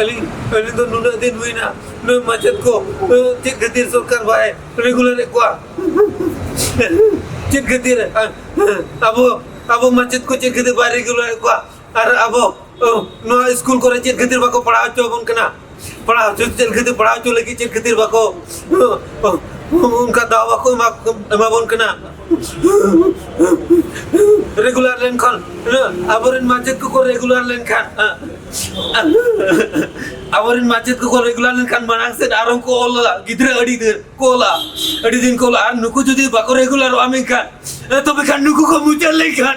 ᱟᱹᱞᱤᱧ ᱟᱹᱞᱤᱧ ᱫᱚ ᱱᱩᱱᱟᱹᱜ ᱫᱤᱱ ᱦᱩᱭᱱᱟ ᱱᱩᱭ ᱢᱟᱪᱮᱫ ᱠᱚ ᱪᱮᱫ ᱠᱷᱟᱹᱛᱤᱨ ᱥᱚᱨᱠᱟᱨ ᱵᱟᱭ ᱨᱮᱜᱩᱞᱟᱨᱮᱫ ᱠᱚᱣᱟ ᱪᱮᱫ ᱠᱷᱟᱹᱛᱤᱨ ᱟᱵᱚ ᱟᱵᱚ ᱢᱟᱪᱮᱫ ᱠᱚ ᱪᱮᱫ ᱠᱷᱟᱹᱛᱤᱨ ᱵᱟᱭ ᱨᱮᱜᱩᱞᱟᱨᱮᱫ ᱠᱚᱣᱟ ᱟᱨ ᱟᱵᱚ ᱱᱚᱣᱟ ᱥᱠᱩᱞ ᱠᱚᱨᱮ ᱪᱮᱫ ᱠᱷᱟᱹᱛᱤᱨ ᱵᱟᱠᱚ ᱯᱟᱲᱦᱟᱣ ᱦᱚᱪᱚ ᱟᱵᱚᱱ ᱠᱟᱱᱟ ᱯᱟᱲᱦᱟᱣ ᱦᱚᱪᱚ ᱪᱮᱫ ᱠᱷᱟᱹᱛᱤᱨ ᱯᱟᱲᱦᱟᱣ ᱦᱚᱪᱚ ᱞᱟᱹᱜᱤᱫ ᱪᱮᱫ ᱠᱷᱟᱹᱛᱤᱨ ᱵᱟᱠᱚ ᱚᱱᱠᱟ ᱫᱟᱣ ᱵᱟᱠᱚ ᱮᱢᱟᱵᱚᱱ ᱠᱟᱱᱟ ᱨᱮᱜᱩᱞᱟᱨ ᱞᱮᱱᱠᱷᱟᱱ ᱟᱵᱚᱨᱮᱱ ᱢᱟᱪᱮᱫ ᱠᱚᱠᱚ ᱨᱮᱜᱩᱞᱟᱨ ᱞᱮᱱᱠᱷᱟᱱ ᱟᱵᱚᱨᱮᱱ ᱢᱟᱪᱮᱫ ᱠᱚᱠᱚ ᱨᱮᱜᱩᱞᱟᱨ ᱞᱮᱱᱠᱷᱟᱱ ᱢᱟᱲᱟᱝ ᱥᱮᱫ ᱟᱨᱦᱚᱸ ᱠᱚ ᱚᱞᱟ ᱜᱤᱫᱽᱨᱟᱹ ᱟᱹᱰᱤ ᱫᱤᱱ ᱠᱚ ᱚᱞᱟ ᱟᱹᱰᱤ ᱫᱤᱱ ᱠᱚ ᱚᱞᱟ ᱟᱨ ᱱᱩᱠᱩ ᱡᱩᱫᱤ ᱵᱟᱠᱚ ᱨᱮᱜᱩᱞᱟᱨᱚᱜᱼᱟ ᱢᱮᱱᱠᱷᱟᱱ ᱛᱚᱵᱮ ᱠᱷᱟᱱ ᱱᱩᱠᱩ ᱠᱚ ᱢᱩᱪᱟᱹᱫ ᱞᱮᱱᱠᱷᱟᱱ